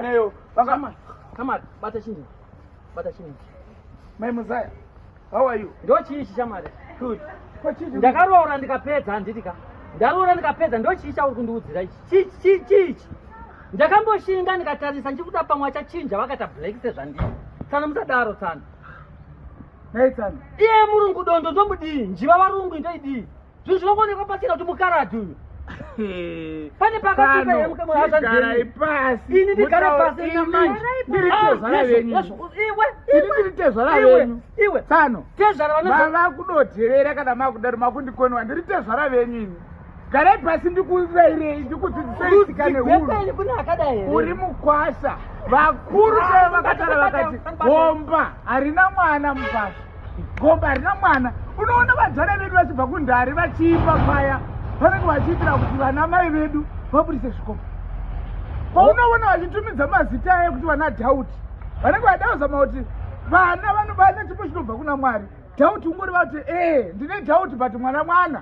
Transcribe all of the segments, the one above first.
Neyo. Vanga Shamari, bata chini? Bata chini? Mai Muzaya. How are you? Ndo chii Shamari? Good. Ko chii? Ndakaroora ndikapedza handiti ka? Ndaroora ndikapedza ndo chii chauri kundiudzira ichi? Chii chii chii? Ndakamboshinga ndikatarisa ndichikuda pamwe achachinja vakata black sezvandii. Tsana musadaro tsana. Nei tsana? Iye murungu dondo ndomudii? Njiva varungu ndoidii? Zvinhu zvinongoonekwa pachena kuti mukaradhi uyu. Pane pakatuka here muke mwana zvanzi. Garai pasi. Ini ndigare pasi ina manje. Ndiri tezvara ah, venyu. Iwe. Ini ndiri tezvara venyu. Iwe. Tsano. Tezvara vanoza. Vava kudotevera kana makudaro makundikoniwa. Ndiri tezvara venyu ini. Garai pasi ndikuvairei ndikudzidzisei tsika nehuru. Uri mukwasha. Vakuru chaivo vakatara vakati bomba harina mwana mubasa. gomba harina mwana unoona vadzana vedu vachibva kundari vachiimba paya vanenge vachiitira kuti vana mai vedu vaburise zvikomba paunoona vachitumidza mazita aye kuti vana dauti vanenge vadauzama kuti vana vanobana chipo chinobva kuna mwari dauti ungori vati ee ndine dauti but mwana mwana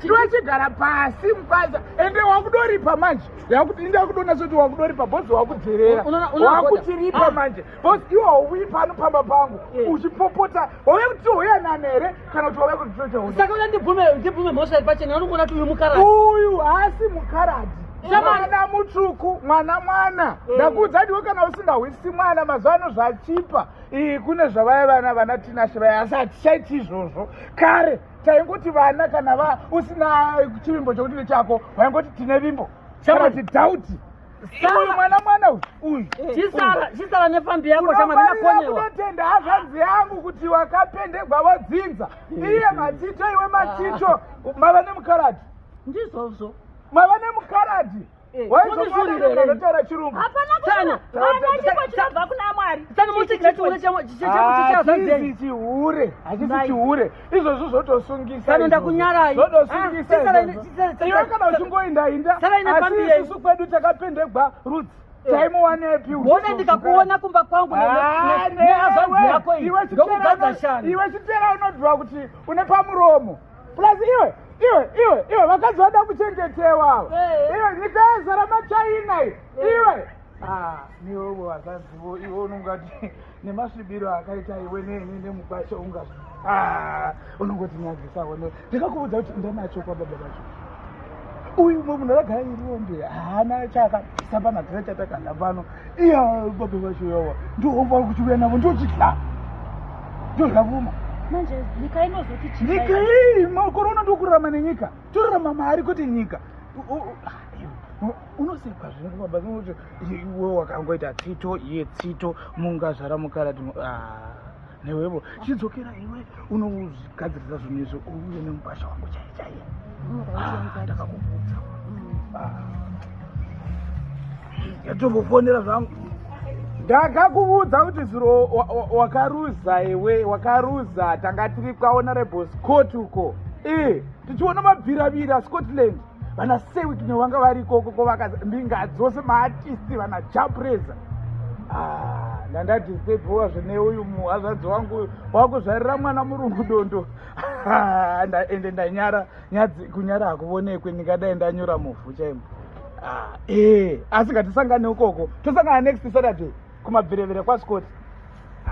chiva chigara pasi mukwanza ende wakudoripa manje yakuti inda kudona zoti wakudoripa bhozi wakudzerera wakuchiripa manje bhozi iwe hauyi pano pamba pangu uchipopota wauya kuti tihoya nani here kana kuti wauya kutitochasaka uya ndibvume mhosva iri pachena anongoona kuti uyu mukaradi uyu haasi mukaradi mwana mutsvuku mwana mwana mm. ndakuudza diwe kana usingahwisi mwana mazuva ano zvachipa kune zvavaya vana vana tinashe vaya asi hatichaiti izvozvo kare taingoti vana kana va usina chivimbo chokuti nechako vaingoti tine vimbo kana ti dhauti uyu mwana mwana uyu chisara nefambi yako shamadinakonyewaunotenda hazvanzi yangu kuti wakapendegwa vodzinza iye matito iwe matito mava nemukaradi ndizvozvo mava nemukaradi Eh, waizomataura chirungu hapana kana chipo chinobva kuna mwari saka motigira chihure chazanzei chihure hachisi chihure izvozvo zvotosungisa kana ndakunyarai zvotosungisa ah, iwe kana uchingoinda inda asi isusu kwedu takapendegwa rudzi eh. taimuwanepi wona ndikakuona kumba kwangu neazvanzi ah, yako iyi ndokugadza shani iwe chitera unodhuva kuti une pamuromo plus iwe iwe iwe iwe vakadzi vada kuchengetewa ava iwe nyika yezara machina iwe ah, niwevo vakadzivo iwe unongati nemasvibiro akaita iwe nemukwasha unga ah, unongoti nyadzisa one ndikakuvudza kuti ndanacho kwababa vacho uyu mwe munhu ragara iriombe haana chakasamba natina chatakanda pano iya baba vacho yawa ndovari kuchiuya navo ndochidya ndodya vuma manje nyika inozoti chii nyika iyi makorona ndokurama nenyika torama mari kwete nyika unosekwa zvinhu baba zvinoti iwe wakangoita tsito iye tsito mungazvara mukarati ah. newevo chidzokera iwe unogadzirisa zvinhu izvo uye nemubasha wangu chai chaiye ndakakubvudza yatombofonera zvangu ndakakuvudza kuti zuro wakaruza iwe wakaruza tanga tiri kwaona reboscot uko e tichiona mabviravira scotland vana sewit nevanga vari ikoko ko vakambinga dzose maatisti vana japreza ah, ndandatisebhowa zvine uyu muhazvadzi wangu wakuzvarira mwana murungu dondo ah, ende ndanyara nyadzi kunyara hakuvonekwe ndingadai ndanyura muvhu chaimo ah, ee eh, asi ngatisangane ukoko tosangana next saturday kumabvirevire kwascoti